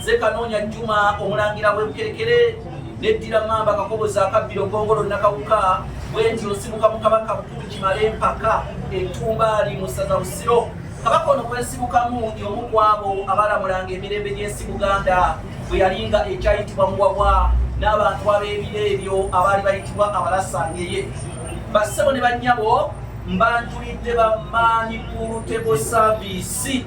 Nze Kanoonya Juma omulangira w'ebukerekere neddira mamba kakobozi akabbiro gongolo nakawuka bwenti osibuka mu kabaka bukulu kimale empaka entumbaali mu ssaza busiro kabaka ono kwesibukamu y'omu ku abo abalamulanga emirembe gy'ensi buganda bwe yalinga ekyayitibwa muwabwa n'abantu ab'ebiro ebyo abaali bayitibwa abalasangeye bassebo ne bannyabo mbanjulidde bamaanyi ku lutego saavisi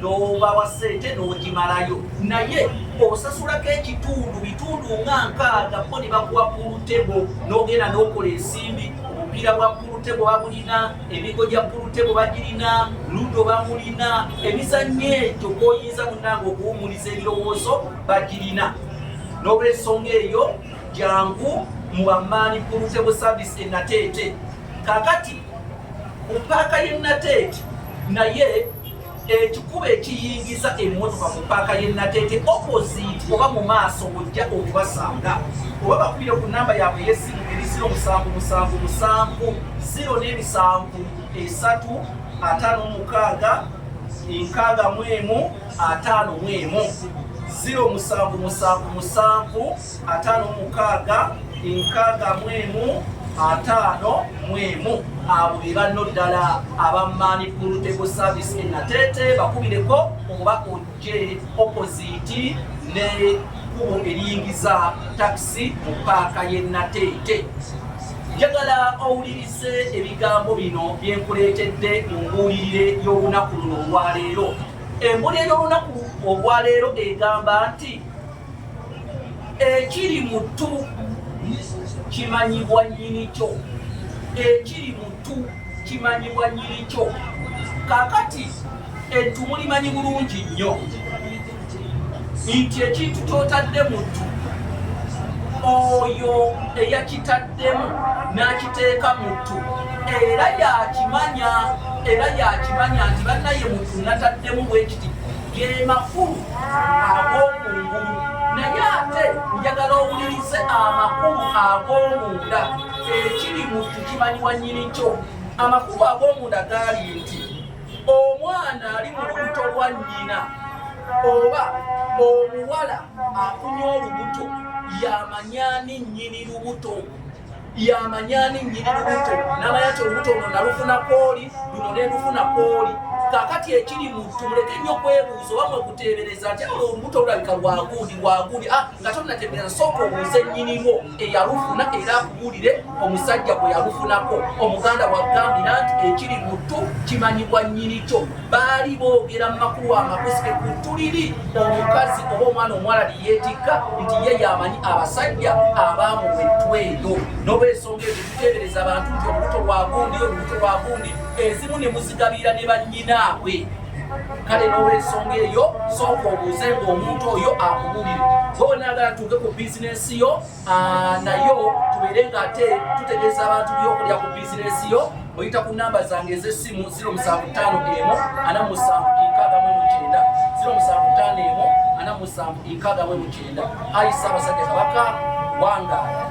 n'obawa ssente n'ogimalayo naye osasulako ekitundu bitundu nga nkaaga bo ne bakuwa pulutebo n'ogenda n'okola ensimbi obupiira bwa pulutebo babulina emigo gya pulutebo bagirina ludo bamulina emizannyo egyo gwoyinza munange okuwumuliza ebirowoozo bagirina n'olwensonga eyo jangu mu bamaani pulutebo service enateete kakati ku paaka y'enateete naye ekikuba ekiyingiza emmotoka mu paaka y'e Nateete opposite oba mu maaso ojja okubasanga oba bakubire ku nnamba yaabwe ey'essimu eri ziro musanvu musanvu musanvu ziro n'emisanvu esatu ataano mukaaga enkaaga mu emu ataano mu emu ziro musanvu musanvu musanvu ataano mukaaga enkaaga mu emu ataano mu emu abo be banno ddala abamaani puluteko saavisi e nateete bakubireko oba ojje opoziti ne kkubo eriyingiza takisi mu paaka y'e nateete njagala owulirize ebigambo bino bye nkuleetedde mu mbuulirire y'olunaku luno olwaleero embulire y'olunaku olwaleero egamba nti ekiri mu ttu kimanyibwa nyini kyo ekiri mu ttu kimanyibwa nyini kyo kakati ettu mulimanyi bulungi nnyo nti ekintu kyotadde mu ttu oyo eyakitaddemu n'akiteeka mu ttu era yakimanya era yakimanya nti bannaye muntu nataddemu bwekiti ge makulu ag'okungulu naye ate njagala owulirize amakulu ag'omunda ekiri mu tukimanyi wa nyini kyo amakulu ag'omunda gaali nti omwana ali mu lubuto lwa nnyina oba omuwala afunye olubuto yamanyani nnyini lubuto yamanyani nyini lubuto namanya nti olubuto luno nalufuna kwoli luno nelufuna kwoli kakati ekiri muntu muleke nnyo kwebuuza oba mwekuteebereza nti awo olubuto lulabika lwagundi lwagundi ah, nga tonategeeza sooka obuuze nnyini lwo eyalufuna era akubuulire omusajja gwe yalufunako omuganda wagambira nti ekiri muntu kimanyibwa nnyini kyo baali boogera mu makuwa amakusike ku ntuliri omukazi oba omwana omuwala liyeetikka nti ye yamanyi abasajja abaamuwa ettwa eyo n'olwensonga ezo tuteebereza abantu nti olubuto lwa gundi olubuto lwa gundi ezimu ne muzigabiira ne bannyinaabwe kale n'olwensonga eyo sooka obuuze ng'omuntu oyo akubuulire bonaagala tuuke ku bizinensi yo Ah, nayo tubeere nga ate tutegeeza abantu byokulya ku bizinesi yo oyita ku namba zange ez'essimu 0751 ayi ssaabasajja kabaka wangaala